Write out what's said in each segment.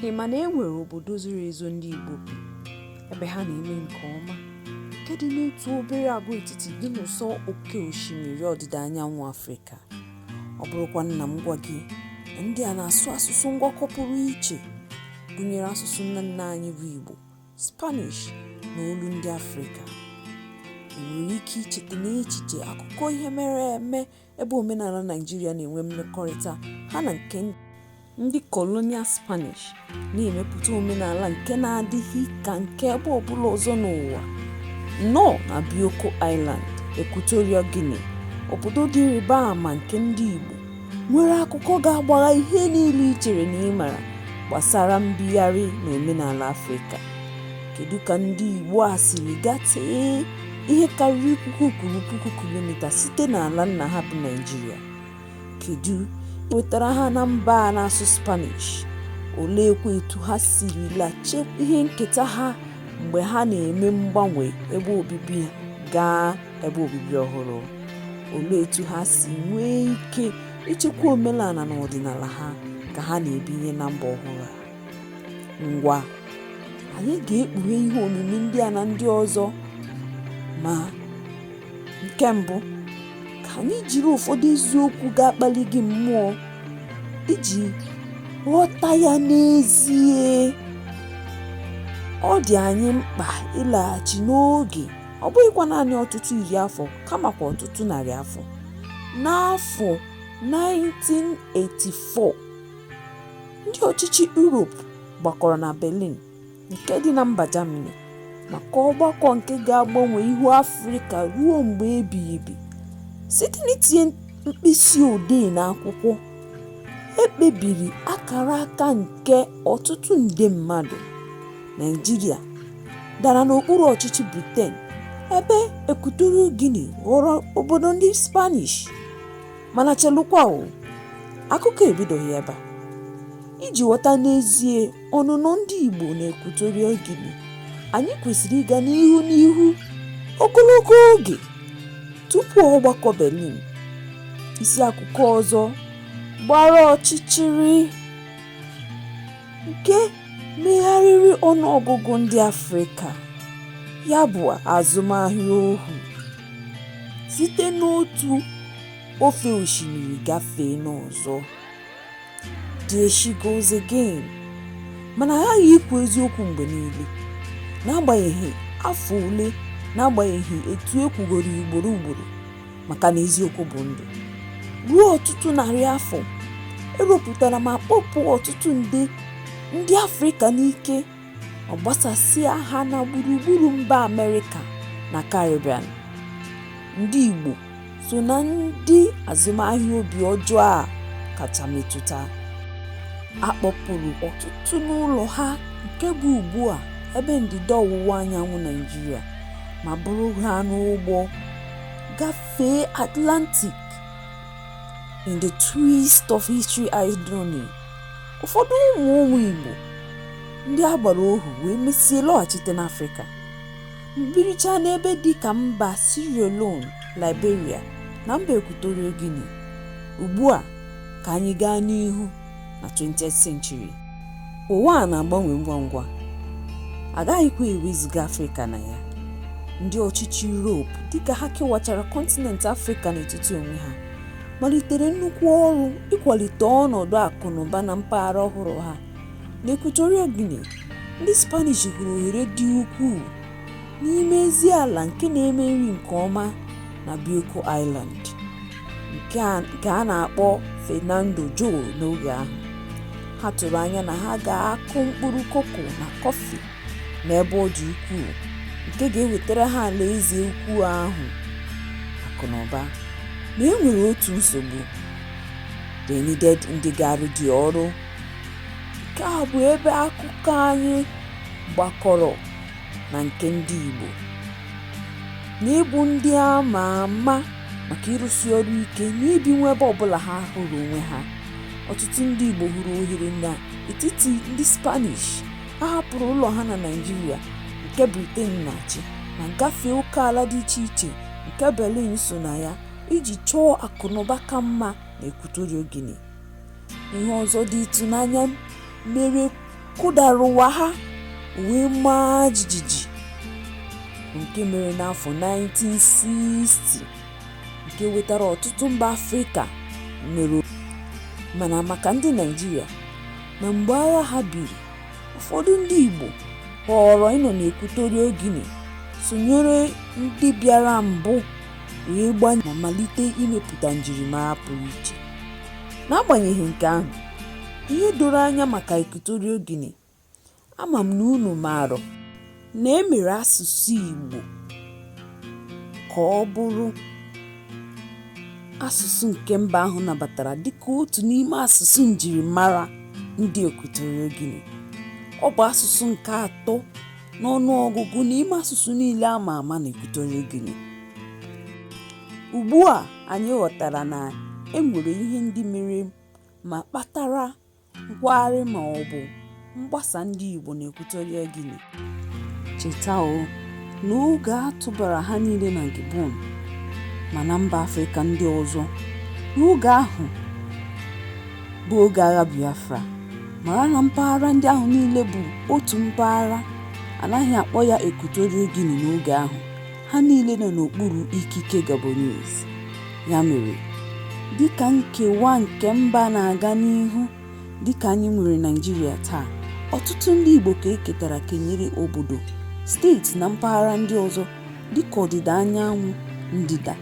Ị ma na e nwere obodo zoro ezo ndị Igbo bi ebe ha na-eme nke ọma nke dị n'otu obere agwaetiti dị n'ụsọ oke osimiri ọdịda anyanwụ Afrịka. Ọ bụrụkwa na m gwa gị na ndị a na-asụ asụsụ ngwakọ pụrụ iche gụnyere asụsụ nna nna anyị bụ Igbo, Spanish na olu ndị Afrịka. I nwere ike icheta n'echiche akụkọ ihe mere eme ebe omenala Naịjirịa na-enwe mmekọrịta ha na nke ndị colonial Spanish na-emepụta omenala nke na-adịghị ka nke ebe ọbụla ọzọ n'ụwa. Nnọọ na Bioko Island, Equatorial Guinea, obodo dị ịrịba ama nke ndị Igbo nwere akụkọ ga-agbagha ihe niile i chere na ị mara gbasara mbigharị na omenala Afrịka. Kedu ka ndị Igbo a siri gatee? ihe karịrị puku kwuru puku kilomita site n'ala nna ha bụ Naịjirịa. Kedu wetara ha na mba a na-asụ Spanish? Oleekwa etu ha sirila chekwa ihe nketa ha mgbe ha na-eme mgbanwe ebe obibi gaa ebe obibi ọhụrụ? Olee etu ha si nwee ike ichekwa omenala na ọdịnala ha ka ha na-ebinye na mba ọhụrụ a? ngwa anyị ga-ekpughe ihe omimi ndị a na ndị ọzọ ma nke mbụ ka anyị jiri ụfọdụ eziokwu ga-akpali gị mmụọ iji ghọta ya n'ezie ọ dị anyị mkpa ịlaghachi n'oge ọ bụghịkwa naanị ọtụtụ iri afọ kamakwa ọtụtụ narị afọ n'afọ 1984 Ndị ọchịchị Europe gbakọrọ na Berlin nke dị na mba Germany maka ọgbakọ nke ga-agbanwe ihu Afrịka ruo mgbe ebighị ebi site n'itinye mkpịsị odee n'akwụkwọ. E kpebiri akara aka nke ọtụtụ nde mmadụ. Naịjirịa dara n'okpuru ọchịchị Briten ebe Equatorial Guinea ghọrọ obodo ndị Spanish. mana chelụkwa o akụkọ ebidoghị ebe a iji ghọta n'ezie ọnụnọ ndị Igbo na Equatorial Guinea anyị kwesịrị ịga n'ihu n'ihu ogologo oge tupu ọgbakọ Berlin isi akụkọ ọzọ gbara ọchịchịrị nke megharịrị ọnụọgụgụ ndị Afrịka ya bụ azụmahịa ohu site n'otu ofe osimiri gafee n'ọzọ there she goes again mana aghaghị ikwu eziokwu mgbe niile n'agbanyeghị afọ ole n'agbanyeghị etu e kwugoro ugboro ugboro maka na eziokwu bụ ndụ ruo ọtụtụ narị afọ e wepụtara ma kpọpụ ọtụtụ nde ndị afrịka n'ike ọ gbasasịa ha na gburugburu mba Amerịka na Caribbean. Ndị Igbo so na ndị azụmahịa obi ọjọọ a kacha metụta. A kpọpụrụ ọtụtụ n'ụlọ ha nke bụ ugbu a ebe ndịda ọwụwa anyanwụ Naịjirịa ma buru ha n'ụgbọ gafee Atlantic in the twist of history irony. ụfọdụ ụmụ ụmụ Igbo ndị a gbara ohu wee mesịa lọghachite n'Afrịka ma biricha n'ebe dị ka mba Sierra Leone Liberia na mba Equatorial Guinea ugbu a ka anyị gaa n'ihu na 20th century ụwa a na-agbanwe ngwa ngwa agaghịkwa ewezuga Afrịka na ya ndị ọchịchị Europe dịka ha kewachara kọntinent Afrịka n'etiti onwe ha malitere nnukwu ọrụ ịkwalite ọnọdụ akụ na ụba na mpaghara ọhụrụ ha. N'Equatorial Guinea, ndị Spanish hụrụ ohere dị ukwuu n'ime ezi ala nke na-eme nri nke ọma na Bioko Island, nke a na-akpọ Fernando Po n'oge ahụ. Ha tụrụ anya na ha ga-akụ mkpụrụ koko na kọfị. n'ebe ọ dị ukwuu nke ga-ewetara ha alaeze ukwu ahụ akụ na ụba ma e nwere otu nsogbu they needed ndị ga-arụ the ọrụ nke a bụ ebe akụkọ anyị gbakọrọ na nke ndị Igbo n'ịbụ ndị a ma ama maka ịrụsi ọrụ ike n'ibinwu ebe ọbụla ha hụrụ onwe ha ọtụtụ ndị Igbo hụrụ ohere n'etiti ndị Spanish ha hapụrụ ụlọ ha na Naịjirịa nke Britain na-achị ma gafee okeala dị iche iche nke Berlin so na ya iji chọọ akụnụba ka mma na Equatorial Guinea. Ihe ọzọ dị ịtụnanya mere kụdara ụwa ha wee maa jijiji nke mere n'afọ 1960 nke wetara ọtụtụ mba Afrịka nwere mana maka ndị Naịjirịa na mgbe agha ha biri, ụfọdụ ndị Igbo họọrọ ịnọ n'Equatorial Guinea sonyere ndị bịara mbụ wee gbanye ma malite imepụta njirimara pụrụ iche. N'agbanyeghị nke ahụ, ihe doro anya maka Equatorial Guinea ama m na unu maara na e mere asụsụ Igbo ka ọ bụrụ asụsụ nke mba ahụ nabatara dịka otu n'ime asụsụ njirimara ndị Equatorial Guinea. Ọ bụ asụsụ nke atọ n'ọnụ ọgụgụ n'ime asụsụ niile a ma ama n'Equatorial Guinea. Ugbu a anyị ghọtara na e nwere ihe ndị mere ma kpatara Nkwagharị ma ọ bụ mgbasa ndị Igbo n'Equatorial Guinea. Cheta o, na oge a tụbara ha niile na Gabon ma na mba Afrịka ndị ọzọ n'oge ahụ bụ oge agha Biafra. Mara na mpaghara ndị ahụ niile bụ otu mpaghara, a naghị akpọ ya Equatorial Guinea n'oge ahụ. ha niile nọ n'okpuru ikike Gabonese. Ya mere, dịka nkewa nke mba na-aga n'ihu dịka anyị nwere Naịjirịa taa, ọtụtụ ndị Igbo ka e ketara kenyere obodo, steeti na mpaghara ndị ọzọ dịka ọdịda anyanwụ, ndịda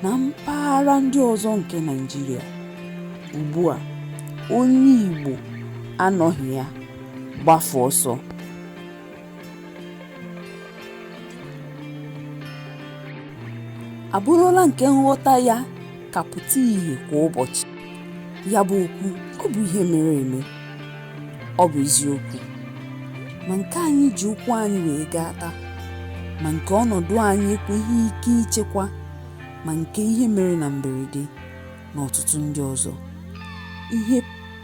na mpaghara ndị ọzọ nke Naịjirịa. Ugbu a, onye Igbo anọghị ya gbafuo ọsọ. abụrụla nke nghọta ya ka apụta ìhè kwa ụbọchị. Ya bụ okwu ọ bụ ihe mere eme? Ọ bụ eziokwu. Ma nke anyị ji ụkwụ anyị wee gaa taa, ma nke ọnọdụ anyị ekweghị ike ichekwa, ma nke ihe mere na mberede na ọtụtụ ndị ọzọ. Ihe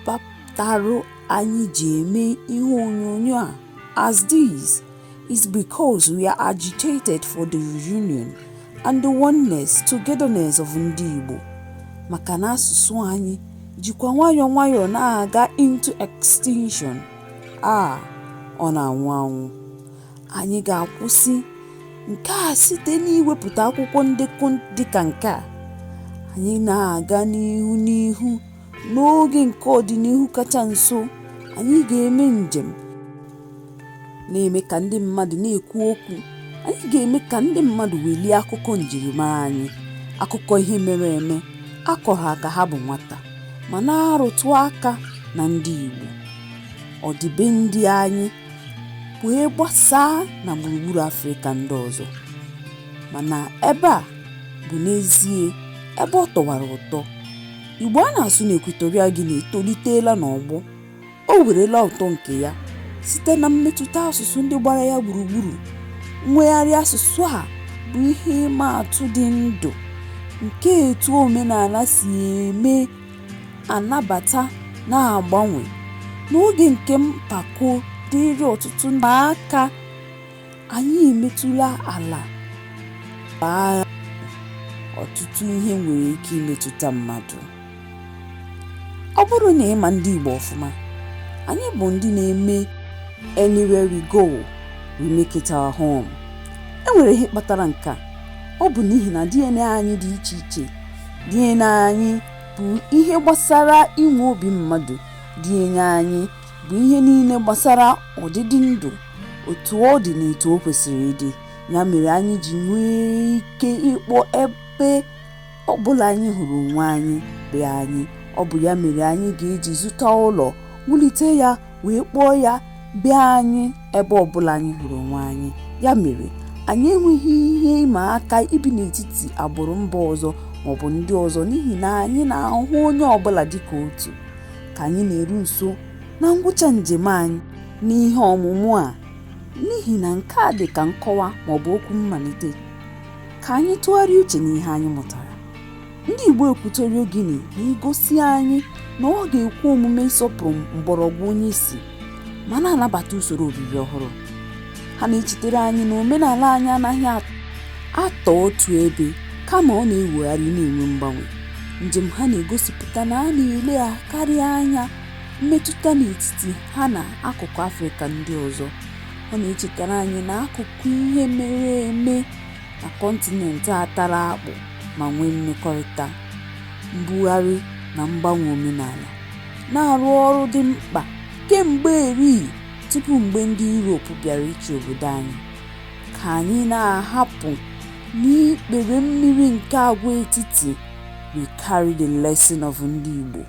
kpatara anyị ji eme ihe onyonyo a as this is because we are agitated for the reunion and the oneness, togetherness of ndị Igbo maka na asụsụ anyị jikwa nwayọọ nwayọọ na-aga into extinction a ọ na-anwụ anwụ anyị ga-akwụsị nke a site n'iwepụta akwụkwọ ndekọ dịka nke a anyị na-aga n'ihu n'ihu N'oge nke ọdịnihu kacha nso, anyị ga-eme njem na-eme ka ndị mmadụ na-ekwu okwu. Anyị ga-eme ka ndị mmadụ welie akụkọ njirimara anyị, akụkọ ihe mere eme a kọrọ ha ka ha bụ nwata, ma na-arụtụ aka na ndị Igbo, ọdịbendị anyị wee gbasaa na gburugburu Afrịka ndị ọzọ. Mana ebe a bụ n'ezie ebe ọ tọwara ụtọ. Igbo a na-asụ na Equatorial Guinea etoliteela n'ọgbọ. O werela ụtọ nke ya site na mmetụta asụsụ ndị gbara ya gburugburu. Mwegharị asụsụ a bụ ihe ịma atụ dị ndụ nke etu omenala si eme anabata na-agbanwe n'oge nke mpako dịịrị ọtụtụ n'aka. Anyị emetụlala aka ọtụtụ ihe nwere ike imetụta mmadụ. Ọ bụrụ na ị ma ndị Igbo ọfụma, anyị bụ ndị na-eme anywhere we go, we make it our home. E nwere ihe kpatara nke a. Ọ bụ n'ihi na DNA anyị dị iche iche. DNA anyị bụ ihe gbasara inwe obi mmadụ. DNA anyị bụ ihe niile gbasara ọdịdị ndụ otu ọ dị na etu o kwesịrị ịdị ya mere anyị ji nwee ike ịkpọ ebe ọ bụla anyị hụrụ onwe anyị be anyị ọ bụ ya mere anyị ga-eji zụta ụlọ wulite ya wee kpọọ ya be anyị ebe ọ bụla anyị hụrụ onwe anyị ya mere anyị enweghị ihe ịma aka ibi n'etiti agbụrụ mba ọzọ maọbụ ndị ọzọ n'ihi na anyị na-ahụ onye ọbụla dịka otu ka anyị na-eru nso na ngwụcha njem anyị n'ihe ọmụmụ a n'ihi na nke a dị ka nkọwa ma ọ bụ okwu mmalite ka anyị tụgharịa uche n'ihe anyị mụtara ndị Igbo Equatorial Guinea na-egosi anyị na ọ ga-ekwe omume ịsọpụrụ mgbọrọgwụ onye isi ma na-anabata usoro obibi ọhụrụ ha na-echetere anyị na omenala anyị anaghị atọ otu ebe kama ọ na-ewegharị na-enwe mgbanwe njem ha na-egosipụta na a na-eleghakarị anya mmetụta n'etiti ha na akụkụ afrịka ndị ọzọ ọ na-echetara anyị na akụkọ ihe mere eme na kọntinent a tara akpụ ma nwee mmekọrịta mbugharị na mgbanwe omenala na-arụ ọrụ dị mkpa kemgbe eri tupu mgbe ndị Europe bịara ịchị obodo anyị. Ka anyị na-ahapụ n'ikpere mmiri nke agwaetiti we carry the lesson of ndị Igbo.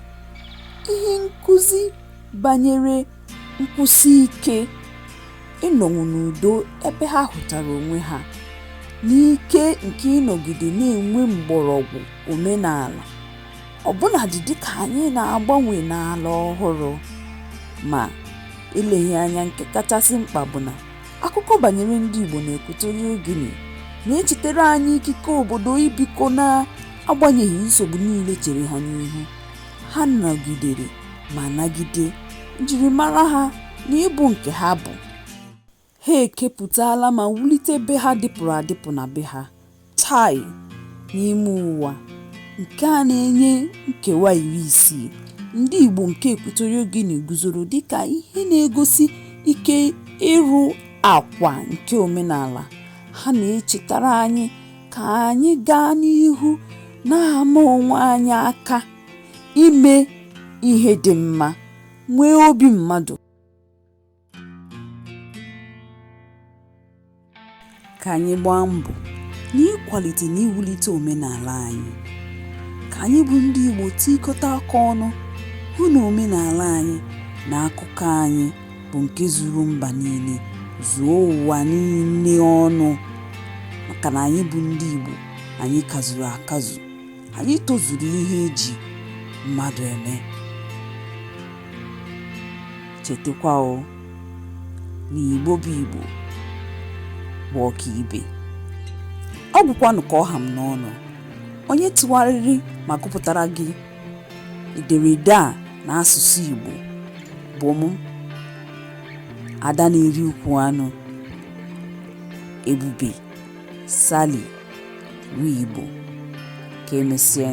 Ihe nkụzi banyere nkwụsi ike ịnọnwu n'udo ebe ha hụtara onwe ha n'ike nke ịnọgide na-enwe mgbọrọgwụ omenala. ọbụnadị dịka anyị na-agbanwe n'ala ọhụrụ ma eleghị anya nke kachasị mkpa bụ na akụkọ banyere ndị Igbo na Equatorial Guinea na-echetere anyị ikike obodo ibikọ na-agbanyeghị nsogbu niile chere ha n'ihu ha nọgidere ma nagide njirimara ha na ịbụ nke ha bụ Ha ekepụtala ma wulite be ha dịpụrụ adịpụ na be ha. Chai! N'ime ụwa nke a na-enye nkewa iri isii, ndị Igbo nke Equatorial Guinea guzoro dịka ihe na-egosi ike ịrụ akwa nke omenala. Ha na-echetara anyị ka anyị gaa n'ihu na-ama onwe anyị aka ime ihe dị mma, nwee obi mmadụ. ka anyị gbaa mbọ n'ịkwalite na iwulite omenala anyị ka anyị bụ ndị Igbo tikọta aka ọnụ hụ na omenala anyị na akụkọ anyị bụ nke zuru mba niile zuo ụwa niile ọnụ maka na anyị bụ ndị Igbo anyị kazuru akazu Anyị tozuru ihe e ji mmadụ eme. Chetakwa o na Igbo bụ Igbo bụ ọkaibe. Ọ gwụkwanụ ka ọ ha m n'ọnụ. Onye tụgharịrị ma gụpụtara gị ederede a n'asụsụ Igbo bụ m, Ada na-eri ukwu anụ, Ebube. Sally Wibo. Ka emesịa.